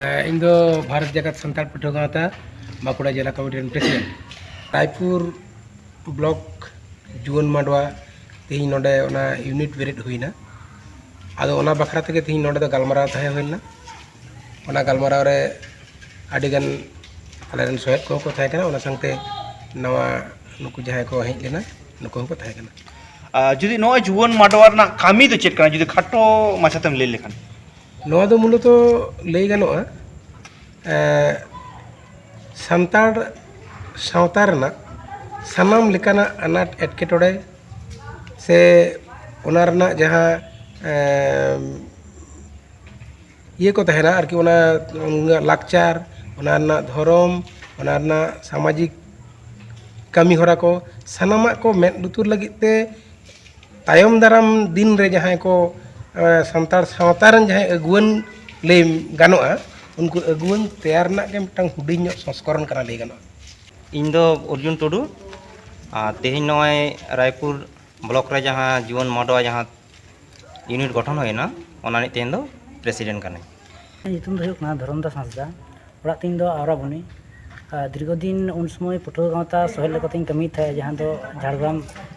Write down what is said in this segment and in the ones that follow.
ᱤᱧ ᱫᱚ ᱵᱷᱟᱨᱚᱛ ᱡᱟᱠᱟᱛ ᱥᱟᱱᱛᱟᱲ ᱯᱟᱹᱴᱷᱩᱣᱟᱹ ᱜᱟᱶᱛᱟ ᱵᱟᱸᱠᱩᱲᱟ ᱡᱮᱞᱟ ᱠᱚᱢᱤᱴᱤ ᱨᱮᱱ ᱯᱨᱮᱥᱤᱰᱮᱱᱴ ᱨᱟᱭᱯᱩᱨ ᱵᱞᱚᱠ ᱡᱩᱣᱟᱹᱱ ᱢᱟᱰᱣᱟ ᱛᱮᱦᱮᱧ ᱱᱚᱰᱮ ᱚᱱᱟ ᱤᱭᱩᱱᱤᱴ ᱵᱮᱨᱮᱫ ᱦᱩᱭᱱᱟ ᱟᱫᱚ ᱚᱱᱟ ᱵᱟᱠᱷᱨᱟ ᱛᱮᱜᱮ ᱛᱮᱦᱮᱧ ᱱᱚᱰᱮ ᱫᱚ ᱜᱟᱞᱢᱟᱨᱟᱣ ᱛᱟᱦᱮᱸ ᱦᱩᱭ ᱞᱮᱱᱟ ᱚᱱᱟ ᱜᱟᱞᱢᱟᱨᱟᱣ ᱨᱮ ᱟᱹᱰᱤᱜᱟᱱ ᱟᱞᱮ ᱨᱮᱱ ᱥᱚᱦᱮᱫ ᱠᱚᱦᱚᱸ ᱠᱚ ᱛᱟᱦᱮᱸ ᱠᱟᱱᱟ ᱚᱱᱟ ᱥᱟᱶᱛᱮ ᱱᱟᱣᱟ ᱱᱩᱠᱩ ᱡᱟᱦᱟᱸᱭ ᱠᱚ ᱦᱮᱡ ᱞᱮᱱᱟ ᱱᱩᱠᱩ ᱦᱚᱸᱠᱚ ᱛᱟᱦᱮᱸ ᱠᱟᱱᱟ ᱟᱨ ᱡᱩᱫᱤ ᱱᱚᱜᱼᱚᱭ ᱡᱩᱣᱟᱹᱱ ᱢᱟᱰᱣᱟ ᱨᱮᱱᱟᱜ ᱠᱟᱹᱢᱤ ᱫᱚ ᱪᱮᱫ ᱠᱟᱱᱟ ᱡᱩᱫᱤ ᱠᱷᱟᱴᱚ ᱢᱟᱪᱷᱟᱛᱮᱢ ᱞᱟᱹᱭ ᱞᱮᱠᱷᱟᱱ ᱱᱚᱣᱟ ᱫᱚ ᱢᱩᱞᱚᱛᱚ ᱞᱟᱹᱭ ᱜᱟᱱᱚᱜᱼᱟ ᱥᱟᱱᱛᱟᱲ ᱥᱟᱶᱛᱟ ᱨᱮᱱᱟᱜ ᱥᱟᱱᱟᱢ ᱞᱮᱠᱟᱱᱟᱜ ᱟᱱᱟᱴ ᱮᱴᱠᱮᱴᱚᱬᱮ ᱥᱮ ᱚᱱᱟ ᱨᱮᱱᱟᱜ ᱡᱟᱦᱟᱸ ᱤᱭᱟᱹ ᱠᱚ ᱛᱟᱦᱮᱱᱟ ᱟᱨᱠᱤ ᱚᱱᱟ ᱩᱱᱟᱹᱜ ᱞᱟᱠᱪᱟᱨ ᱚᱱᱟ ᱨᱮᱱᱟᱜ ᱫᱷᱚᱨᱚᱢ ᱚᱱᱟ ᱨᱮᱱᱟᱜ ᱥᱟᱢᱟᱡᱤᱠ ᱠᱟᱹᱢᱤᱦᱚᱨᱟ ᱠᱚ ᱥᱟᱱᱟᱢᱟᱜ ᱠᱚ ᱢᱮᱫ ᱞᱩᱛᱩᱨ ᱞᱟᱹᱜᱤᱫ ᱛᱮ ᱛᱟᱭᱚᱢ ᱫᱟᱨᱟᱢ ᱫᱤᱱ ᱨᱮ ᱡᱟᱦᱟᱸᱭ ᱠᱚ ᱥᱟᱱᱛᱟᱲ ᱥᱟᱶᱛᱟ ᱨᱮᱱ ᱡᱟᱦᱟᱸᱭ ᱟᱹᱜᱩᱣᱟᱹᱱ ᱞᱟᱹᱭ ᱜᱟᱱᱚᱜᱼᱟ ᱩᱱᱠᱩ ᱟᱹᱜᱩᱣᱟᱹᱱ ᱛᱮᱭᱟᱨ ᱨᱮᱱᱟᱜ ᱜᱮ ᱢᱤᱫᱴᱟᱝ ᱦᱩᱰᱤᱧ ᱧᱚᱜ ᱥᱚᱝᱥᱠᱚᱨᱚᱱ ᱠᱟᱱᱟ ᱞᱟᱹᱭ ᱜᱟᱱᱚᱜᱼᱟ ᱤᱧ ᱫᱚ ᱚᱨᱡᱩᱱ ᱴᱩᱰᱩ ᱟᱨ ᱛᱮᱦᱮᱧ ᱱᱚᱜᱼᱚᱭ ᱨᱟᱭᱯᱩᱨ ᱵᱞᱚᱠ ᱨᱮ ᱡᱟᱦᱟᱸ ᱡᱩᱣᱟᱹᱱ ᱢᱟᱰᱣᱟ ᱡᱟᱦᱟᱸ ᱤᱭᱩᱱᱤᱴ ᱜᱚᱴᱷᱚᱱ ᱦᱩᱭᱮᱱᱟ ᱚᱱᱟ ᱨᱤᱱᱤᱡ ᱛᱮᱦᱮᱧ ᱫᱚ ᱯᱨᱮᱥᱤᱰᱮᱱᱴ ᱠᱟᱹᱱᱟᱹᱧ ᱧᱩᱛᱩᱢ ᱫᱚ ᱦᱩᱭᱩᱜ ᱠᱟᱱᱟ ᱫᱷᱚᱨᱚᱢᱫᱟᱥ ᱦᱟᱸᱥᱫᱟ ᱚᱲᱟᱜ ᱛᱤᱧ ᱫᱚ ᱟᱣᱨᱟᱵᱚᱱᱤ ᱟᱨ ᱫᱤᱨᱜᱷᱚ ᱫᱤᱱ ᱩᱱ ᱥᱚᱢᱚᱭ ᱯᱟᱹᱴᱷᱩᱣᱟᱹ ᱜᱟᱶᱛᱟ ᱥᱚᱦᱮᱫ ᱞᱮᱠᱟᱛᱤᱧ ᱠᱟᱹᱢᱤᱭᱮᱫ ᱛᱟᱦᱮᱸᱫ ᱡᱟᱦᱟᱸ ᱫᱚ ᱡᱷᱟᱲᱜᱨᱟᱢ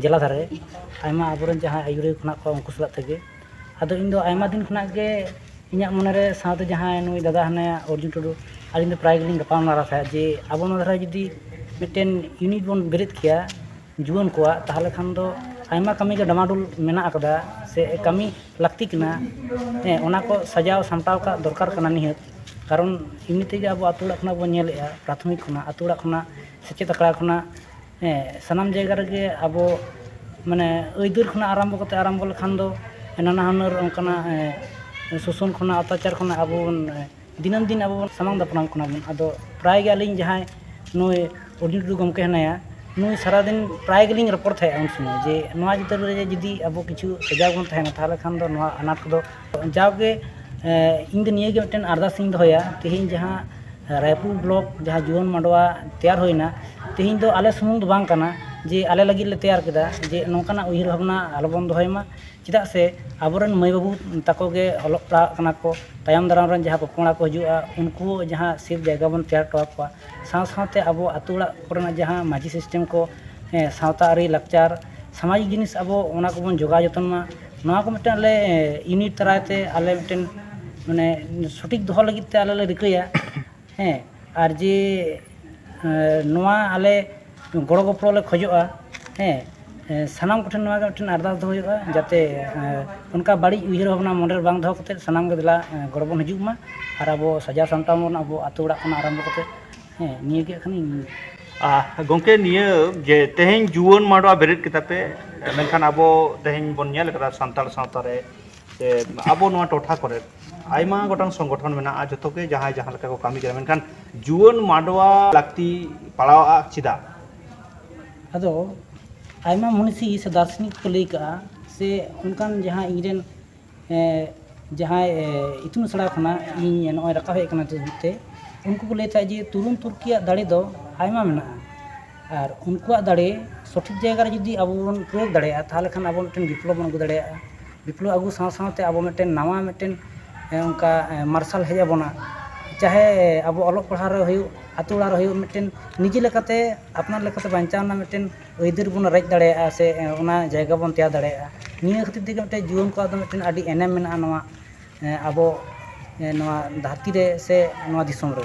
ᱡᱮᱞᱟ ᱫᱷᱟᱨᱮ ᱟᱭᱢᱟ ᱟᱵᱚ ᱨᱮᱱ ᱡᱟᱦᱟᱸᱭ ᱟᱹᱭᱩᱨᱤᱭᱟᱹ ᱠᱚ ᱢᱮᱱᱟᱜ ᱠᱚᱣᱟ ᱩᱱᱠᱩ ᱥᱟᱞᱟᱜ ᱛᱮᱜᱮ ᱟᱫᱚ ᱤᱧ ᱫᱚ ᱟᱭᱢᱟ ᱫᱤᱱ ᱠᱷᱚᱱᱟᱜ ᱜᱮ ᱤᱧᱟᱹᱜ ᱢᱚᱱᱮ ᱨᱮ ᱥᱟᱶᱛᱮ ᱡᱟᱦᱟᱸᱭ ᱱᱩᱭ ᱫᱟᱫᱟ ᱦᱮᱱᱟᱭᱟ ᱚᱨᱡᱩᱱ ᱴᱩᱰᱩ ᱟᱹᱞᱤᱧ ᱫᱚ ᱯᱨᱟᱭ ᱜᱮᱞᱤᱧ ᱜᱟᱯᱟᱞᱢᱟᱨᱟᱣ ᱛᱟᱦᱮᱸᱫ ᱡᱮ ᱟᱵᱚ ᱱᱚᱣᱟ ᱫᱷᱟᱨᱮ ᱡᱩᱫᱤ ᱢᱤᱫᱴᱮᱱ ᱤᱭᱩᱱᱤᱴ ᱵᱚᱱ ᱵᱮᱨᱮᱫ ᱠᱮᱭᱟ ᱡᱩᱣᱟᱹᱱ ᱠᱚᱣᱟᱜ ᱛᱟᱦᱚᱞᱮ ᱠᱷᱟᱱ ᱫᱚ ᱟᱭᱢᱟ ᱠᱟᱹᱢᱤ ᱜᱮ ᱰᱟᱢᱟᱰᱩᱞ ᱢᱮᱱᱟᱜ ᱟᱠᱟᱫᱟ ᱥᱮ ᱠᱟᱹᱢᱤ ᱞᱟᱹᱠᱛᱤ ᱠᱟᱱᱟ ᱦᱮᱸ ᱚᱱᱟ ᱠᱚ ᱥᱟᱡᱟᱣ ᱥᱟᱢᱴᱟᱣ ᱠᱟᱜ ᱫᱚᱨᱠᱟᱨ ᱠᱟᱱᱟ ᱱᱤᱦᱟᱹᱛ ᱠᱟᱨᱚᱱ ᱮᱢᱱᱤ ᱛᱮᱜᱮ ᱟᱵᱚ ᱟᱛᱳ ᱚᱲᱟᱜ ᱠᱷᱚᱱᱟᱜ ᱵᱚᱱ ᱧᱮᱞᱮᱜᱼᱟ ᱯᱨᱟᱛᱷᱚᱢᱤᱠ ᱠᱷᱚᱱᱟᱜ ᱟᱛᱳ ᱚᱲᱟᱜ ᱠᱷᱚᱱᱟᱜ ᱥᱮᱪᱮᱫ ᱟᱠᱷᱲᱟ ᱠᱷᱚᱱᱟᱜ ᱦᱮᱸ ᱥᱟᱱᱟᱢ ᱡᱟᱭᱜᱟ ᱨᱮᱜᱮ ᱟᱵᱚ ᱢᱟᱱᱮ ᱟᱹᱭᱫᱟᱹᱨ ᱠᱷᱚᱱᱟᱜ ᱟᱨᱟᱢᱵᱚ ᱠᱟᱛᱮ ᱟᱨᱟᱢᱵᱚ ᱞᱮᱠᱷᱟᱱ ᱫᱚ ᱱᱟᱱᱟ ᱦᱩᱱᱟᱹᱨ ᱚᱱᱠᱟᱱᱟᱜ ᱥᱳᱥᱳᱱ ᱠᱷᱚᱱᱟᱜ ᱚᱛᱛᱟᱪᱟᱨ ᱠᱷᱚᱱᱟᱜ ᱟᱵᱚ ᱵᱚᱱ ᱫᱤᱱᱟᱹᱢ ᱫᱤᱱ ᱟᱵᱚ ᱵᱚᱱ ᱥᱟᱢᱟᱝ ᱫᱟᱯᱨᱟᱢᱚᱜ ᱠᱟᱱᱟ ᱵᱚᱱ ᱟᱫᱚ ᱯᱨᱟᱭ ᱜᱮ ᱟᱹᱞᱤᱧ ᱡᱟᱦᱟᱸᱭ ᱱᱩᱭ ᱚᱰᱤᱭᱳ ᱴᱩᱰᱩ ᱜᱚᱢᱠᱮ ᱦᱮᱱᱟᱭᱟ ᱱᱩᱭ ᱥᱟᱨᱟ ᱫᱤᱱ ᱯᱨᱟᱭ ᱜᱮᱞᱤᱧ ᱨᱚᱯᱚᱲ ᱛᱟᱦᱮᱸᱜᱼᱟ ᱩᱱ ᱥᱚᱢᱚᱭ ᱡᱮ ᱱᱚᱣᱟ ᱪᱤᱛᱟᱹᱨ ᱨᱮ ᱡᱩᱫᱤ ᱟᱵᱚ ᱠᱤᱪᱷᱩ ᱥᱟᱡᱟᱣ ᱵᱚᱱ ᱛᱟᱦᱮᱱᱟ ᱛᱟᱦᱚᱞᱮ ᱠᱷᱟᱱ ᱫᱚ ᱱᱚᱣᱟ ᱟᱱᱟᱴ ᱠᱚᱫᱚ ᱡᱟᱣ ᱜᱮ ᱤᱧ ᱫᱚ ᱱᱤᱭᱟᱹ ᱜᱮ ᱢᱤᱫᱴᱮᱱ ᱟᱨᱫᱟᱥ ᱤᱧ ᱫᱚᱦᱚᱭᱟ ᱛᱮᱦᱮᱧ ᱡᱟᱦᱟᱸ ᱨᱟᱭᱯᱩᱨ ᱵᱞᱚᱠ ᱡᱟᱦᱟᱸ ᱡᱩᱣᱟᱹᱱ ᱢᱟᱰᱣᱟ ᱛᱮᱭᱟᱨ ᱦᱩᱭᱱᱟ ᱛᱮᱦᱮᱧ ᱫᱚ ᱟᱞᱮ ᱥᱩᱢᱩᱝ ᱫᱚ ᱵᱟᱝ ᱠᱟᱱᱟ ᱡᱮ ᱟᱞᱮ ᱞᱟᱹᱜᱤᱫ ᱞᱮ ᱛᱮᱭᱟᱨ ᱠᱮᱫᱟ ᱡᱮ ᱱᱚᱝᱠᱟᱱᱟᱜ ᱩᱭᱦᱟᱹᱨ ᱵᱷᱟᱵᱽᱱᱟ ᱟᱞᱚ ᱵᱚᱱ ᱫᱚᱦᱚᱭ ᱢᱟ ᱪᱮᱫᱟᱜ ᱥᱮ ᱟᱵᱚᱨᱮᱱ ᱢᱟᱹᱭ ᱵᱟᱹᱵᱩ ᱛᱟᱠᱚ ᱜᱮ ᱚᱞᱚᱜ ᱯᱟᱲᱦᱟᱜ ᱠᱟᱱᱟ ᱠᱚ ᱛᱟᱭᱚᱢ ᱫᱟᱨᱟᱢ ᱨᱮᱱ ᱡᱟᱦᱟᱸ ᱯᱚᱯᱚᱝᱲᱟ ᱠᱚ ᱦᱤᱡᱩᱜᱼᱟ ᱩᱱᱠᱩ ᱦᱚᱸ ᱡᱟᱦᱟᱸ ᱥᱮᱯᱷ ᱡᱟᱭᱜᱟ ᱵᱚᱱ ᱛᱮᱭᱟᱨ ᱦᱚᱴᱚ ᱟᱠᱚᱣᱟ ᱥᱟᱶ ᱥᱟᱶᱛᱮ ᱟᱵᱚ ᱟᱛᱳ ᱚᱲᱟᱜ ᱠᱚᱨᱮᱱᱟᱜ ᱡᱟᱦᱟᱸ ᱢᱟᱹᱡᱷᱤ ᱥᱤᱥᱴᱮᱢ ᱠᱚ ᱥᱟᱶᱛᱟ ᱟᱹᱨᱤ ᱞᱟᱠᱪᱟᱨ ᱥᱟᱢᱟᱡᱤᱠ ᱡᱤᱱᱤᱥ ᱟᱵᱚ ᱚᱱᱟ ᱠᱚᱵᱚᱱ ᱡᱚᱜᱟᱣ ᱡᱚᱛᱚᱱ ᱢᱟ ᱱᱚᱣᱟ ᱠᱚ ᱢᱤᱫᱴᱟᱝ ᱟᱞᱮ ᱤᱭᱩᱱᱤᱴ ᱫᱟᱨᱟᱭ ᱛᱮ ᱟᱞᱮ ᱢᱤᱫᱴᱮᱱ ᱢᱟᱱᱮ ᱥᱚᱴᱷᱤᱠ ᱫᱚᱦᱚ ᱞᱟᱹᱜᱤᱫ ᱛᱮ ᱟᱞᱮ ᱞᱮ ᱨᱤᱠᱟᱹᱭᱟ ᱦᱮᱸ ᱟᱨ ᱡᱮ ᱱᱚᱣᱟ ᱟᱞᱮ ᱜᱚᱲᱚ ᱜᱚᱯᱚᱲᱚ ᱞᱮ ᱠᱷᱚᱡᱚᱜᱼᱟ ᱦᱮᱸ ᱥᱟᱱᱟᱢ ᱠᱚᱴᱷᱮᱱ ᱱᱚᱣᱟ ᱜᱮ ᱢᱤᱫᱴᱮᱱ ᱟᱨᱫᱟᱥ ᱫᱚᱦᱚ ᱦᱩᱭᱩᱜᱼᱟ ᱡᱟᱛᱮ ᱚᱱᱠᱟ ᱵᱟᱹᱲᱤᱡ ᱩᱭᱦᱟᱹᱨ ᱵᱷᱟᱵᱽᱱᱟ ᱢᱚᱱᱮ ᱨᱮ ᱵᱟᱝ ᱫᱚᱦᱚ ᱠᱟᱛᱮᱫ ᱥᱟᱱᱟᱢ ᱜᱮ ᱫᱮᱞᱟ ᱜᱚᱲᱚ ᱵᱚᱱ ᱦᱤᱡᱩᱜ ᱢᱟ ᱟᱨ ᱟᱵᱚ ᱥᱟᱡᱟᱣ ᱥᱟᱢᱴᱟᱣ ᱵᱚᱱ ᱟᱵᱚ ᱟᱛᱳ ᱚᱲᱟᱜ ᱠᱷᱚᱱᱟᱜ ᱟᱨᱟᱢᱵᱚ ᱠᱟᱛᱮᱫ ᱦᱮᱸ ᱱᱤᱭᱟᱹ ᱜᱮ ᱠᱷᱟᱱ ᱤᱧ ᱜᱚᱢᱠᱮ ᱱᱤᱭᱟᱹ ᱡᱮ ᱛᱮᱦᱮᱧ ᱡᱩᱣᱟᱹᱱ ᱢᱟᱰᱣᱟ ᱵᱮᱨᱮᱫ ᱠᱮᱫᱟ ᱯᱮ ᱢᱮᱱᱠᱷᱟᱱ ᱟᱵᱚ ᱛᱮᱦᱮᱧ ᱵᱚᱱ ᱧᱮᱞ ᱠᱟᱫᱟ ᱥᱟᱱᱛᱟᱲ ᱥᱟᱶᱛᱟ ᱨᱮ ᱥᱮ ᱟᱵᱚ ᱱᱚᱣᱟ ᱴᱚᱴᱷᱟ ᱠᱚᱨᱮ ᱟᱭᱢᱟ ᱜᱚᱴᱟᱝ ᱥᱚᱝᱜᱚᱴᱷᱚᱱ ᱢᱮᱱᱟᱜᱼᱟ ᱡᱚᱛᱚ ᱜᱮ ᱡᱟᱦᱟᱸᱭ ᱡᱟᱦᱟᱸ ᱞᱮᱠᱟ ᱠᱚ ᱠᱟᱹᱢᱤ ᱠᱟᱱᱟ ᱢᱮᱱᱠᱷᱟᱱ ᱡᱩᱣᱟᱹᱱ ᱢᱟᱰᱣᱟ ᱞᱟᱹᱠᱛᱤ ᱯᱟᱲᱟᱣᱟᱜᱼᱟ ᱪᱮᱫᱟᱜ ᱟᱫᱚ ᱟᱭᱢᱟ ᱢᱩᱱᱤᱥᱤ ᱥᱮ ᱫᱟᱨᱥᱚᱱᱤᱠ ᱠᱚ ᱞᱟᱹᱭ ᱠᱟᱜᱼᱟ ᱥᱮ ᱚᱱᱠᱟᱱ ᱡᱟᱦᱟᱸ ᱤᱧ ᱨᱮᱱ ᱡᱟᱦᱟᱸᱭ ᱤᱛᱩᱱ ᱟᱥᱲᱟ ᱠᱷᱚᱱᱟᱜ ᱤᱧ ᱱᱚᱜᱼᱚᱭ ᱨᱟᱠᱟᱵ ᱦᱮᱡ ᱠᱟᱱᱟ ᱛᱮ ᱩᱱᱠᱩ ᱠᱚ ᱞᱟᱹᱭ ᱛᱟᱦᱮᱸᱫ ᱡᱮ ᱛᱩᱨᱩᱢ ᱛᱩᱨᱠᱤᱭᱟᱜ ᱫᱟᱲᱮ ᱫᱚ ᱟᱭᱢᱟ ᱢᱮᱱᱟᱜᱼᱟ ᱟᱨ ᱩᱱᱠᱩᱣᱟᱜ ᱫᱟᱲᱮ ᱥᱚᱴᱷᱤᱠ ᱡᱟᱭᱜᱟ ᱨᱮ ᱡᱩᱫᱤ ᱟᱵᱚ ᱵᱚᱱ ᱯᱨᱚᱭᱳᱜᱽ ᱫᱟᱲᱮᱭᱟᱜᱼᱟ ᱛᱟᱦᱚᱞᱮ ᱠᱷᱟᱱ ᱟᱵᱚ ᱢᱤᱫᱴᱮᱱ ᱵᱤᱯᱞᱚᱵ ᱵᱚᱱ ᱟᱹᱜᱩ ᱫᱟᱲᱮᱭᱟᱜᱼᱟ ᱵᱤᱯᱞᱚᱵ ᱟᱹᱜᱩ ᱥᱟᱶ ᱥᱟᱶᱛᱮ ᱟᱵᱚ ᱢᱤᱫᱴᱮᱱ ᱱᱟᱣᱟ ᱢᱤᱫᱴᱮᱱ ᱚᱱᱠᱟ ᱢᱟᱨᱥᱟᱞ ᱦᱮᱡ ᱟᱵᱚᱱᱟ ᱪᱟᱦᱮ ᱟᱵᱚ ᱚᱞᱚᱜ ᱯᱟᱲᱦᱟᱣ ᱨᱮ ᱦᱩᱭᱩᱜ ᱟᱛᱳ ᱚᱲᱟᱜ ᱨᱮ ᱦᱩᱭᱩᱜ ᱢᱤᱫᱴᱮᱱ ᱱᱤᱡᱮ ᱞᱮᱠᱟᱛᱮ ᱟᱯᱱᱟᱨ ᱞᱮᱠᱟᱛᱮ ᱵᱟᱧᱪᱟᱣ ᱨᱮᱱᱟᱜ ᱢᱤᱫᱴᱮᱱ ᱟᱹᱭᱫᱟᱹᱨ ᱵᱚᱱ ᱨᱮᱡ ᱫᱟᱲᱮᱭᱟᱜᱼᱟ ᱥᱮ ᱚᱱᱟ ᱡᱟᱭᱜᱟ ᱵᱚᱱ ᱛᱮᱭᱟᱨ ᱫᱟᱲᱮᱭᱟᱜᱼᱟ ᱱᱤᱭᱟᱹ ᱠᱷᱟᱹᱛᱤᱨ ᱛᱮᱜᱮ ᱢᱤᱫᱴᱮᱱ ᱡᱩᱣᱟᱹᱱ ᱠᱚᱣᱟᱜ ᱫᱚ ᱢᱤᱫᱴᱮᱱ ᱟᱹᱰᱤ ᱮᱱᱮᱢ ᱢᱮᱱᱟᱜᱼᱟ ᱱᱚᱣᱟ ᱟᱵᱚ ᱱᱚᱣᱟ ᱫᱷᱟᱹᱨᱛᱤ ᱨᱮ ᱥᱮ ᱱᱚᱣᱟ ᱫᱤᱥᱚᱢ ᱨᱮ